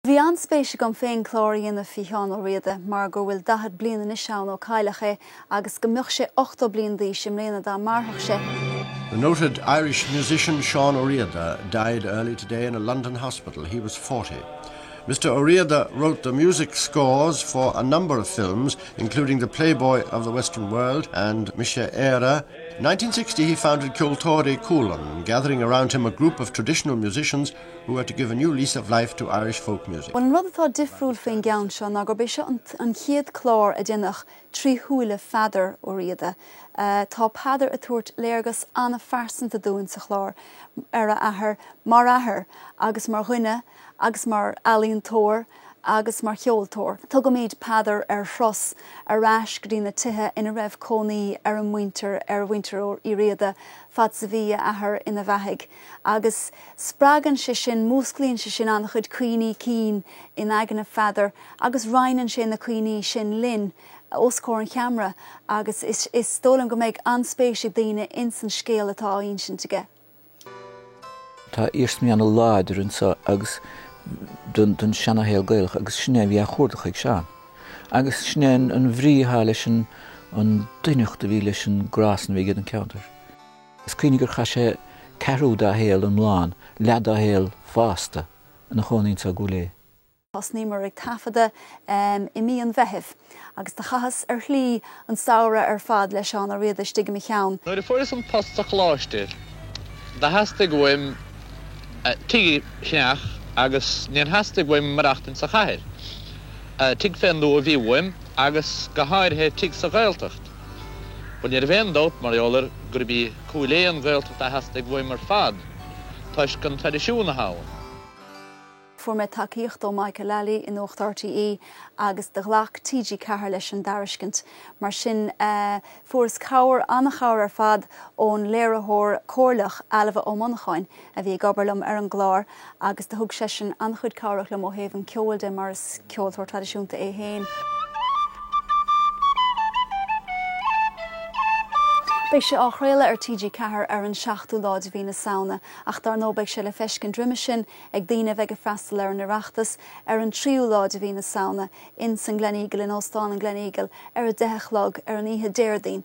Bhí an-spéis agam féin clár a dhéanamh faoi Sheán Ó Riada mar go bhfuil daichead bliain anois ann ó cailleadh é agus go mbeadh sé ochtó bliain d'aois i mbliana dá mairfeadh sé. The noted Irish musician Seán Ó Riada died early today in a London hospital, he was forty. Mr Ó Riada wrote the music scores for a number of films including The Playboy of the Western World and Mise Éire, 1960 he founded Ceoltóirí Cualann, gathering around him a group of traditional musicians who were to give a new lease of life to Irish folk music. Bhuel, an rud atá difriúil faoin gceann seo ná gurb é seo an chéad chlár a deineadh trí shúile Pheadair Ó Riada. Tá Peadar ag tabhairt léargas an-phearsanta dúinn sa chlár ar a athair, mar athair agus mar dhuine agus mar ealaíontóir, agus mar cheoltóir. Tugaimid Peadar ar thuras ar ais go dtí na tithe ina raibh cónaí ar a muintir, ar mhuintir Uí Riada, fad is a bhí a athair ina bheathaigh. Agus spreagann sé sin, músclaíonn sé sin an-chuid cuimhní cinn in aigne Pheadair agus roinneann sé na cuimhní sin linn os comhair an cheamara agus is dóigh liom go mbeidh an-spéis ag daoine ins an scéal atá á insint aige. Tá iarsmaí ana láidre anso agus don seana-shaol Gaelach agus sin é a bhí á chuardach ag Seán. Agus sin é an bhrí athá leis an doimhneacht a bhí leis an grá san a bhí aige don ceantar. Is cuimhin gur chaith sé ceathrú dá shaol i mBleá Cliath, leath dá shaol fásta ina chónaí anso i gCúil Aodha. Thosnaíomar ag taifeadadh i mí an Mheithimh agus do chaitheas, ar shlí, an samhradh ar fad le Seán Ó Riada istigh i mo cheann. Nuair a fuaireas an post sa Choláiste, do theastaigh uaim tigh a cheannach agus níor theastaigh uaim maireachtaint sa chathair. Tigh fén dtuath a bhí uaim agus go háirithe tigh sa Ghaeltacht. Bhuel, ní raibh aon dabht, mar gheall air, gurb í Cúil Aodha an Ghaeltacht a theastaigh uaim ar fad toisc an traidisiún atá ann. Fuair mé tacaíocht ó Mike Lally i Nuacht RTÉ agus do ghlac TG4 leis an dtairiscint. Mar sin, fuaireas cabhair, an-chabhair ar fad, ón léiritheoir comhairleach, Ailbhe Ó Monacháin, a bhí ag obair liom ar an gclár agus do thug seisean an-chuid cabhrach liom ó thaobh an cheoil de mar is ceoltóir traidisiúnta é féin. Beidh sé á chraoladh ar TG4 ar an 7ú lá de mhí na Samhna ach dar ndóigh beidh sé le feiscint roimhe sin ag daoine a bheidh ag freastal ar an Oireachtas ar an tríú lá de mhí na Samhna in san Gleneagle in Óstán an Gleneagle ar a deich a chlog ar an oíche Déardaoin.